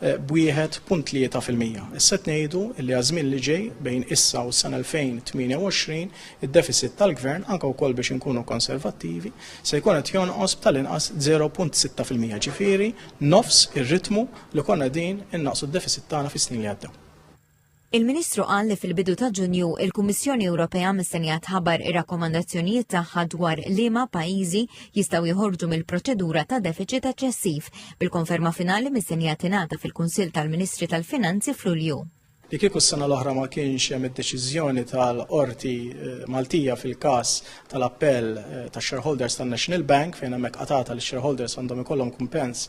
b' 1.3 fil-mija. Issa qed ngħidu li għaż-żmien li ġej, bejn issa u s-sena 2028, id-defisit tal-Gvern, anke wkoll biex inkunu konservattivi, se jkun qed jonqos b' tal-inqas 0.6 fil-mija, ġifieri nofs ir-ritmu li konna qegħdin innaqqsu d-defisit tagħna fis-snin li għaddew. Il-Ministru qal li fil-bidu ta' Ġunju, il-Kummissjoni Ewropea mistennija tħabbar ir-rakkomandazzjonijiet tagħha dwar liema pajjiżi jistgħu joħorġu mill-proċedura ta' defiċit eċċessiv, bil-konferma finali mistennija tingħata fil-Kunsill tal-Ministri tal-Finanzi f'Lulju. Li kieku s-sena l-oħra ma kienx hemm id-deċiżjoni tal-Qorti Maltija fil-każ tal-appell tax-shareholders tan-National Bank fejn hemmhekk qatgħatha li x-shareholders għandhom ikollhom kumpens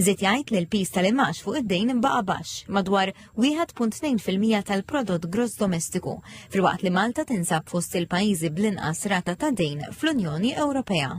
Żied jgħid li l-piż tal-imgħax fuq id-dejn baqa' baxx, madwar 1.2% tal-prodott gross domestiku, filwaqt li Malta tinsab fost il-pajjiżi bl-inqas rata ta' dejn fl-Unjoni Ewropea.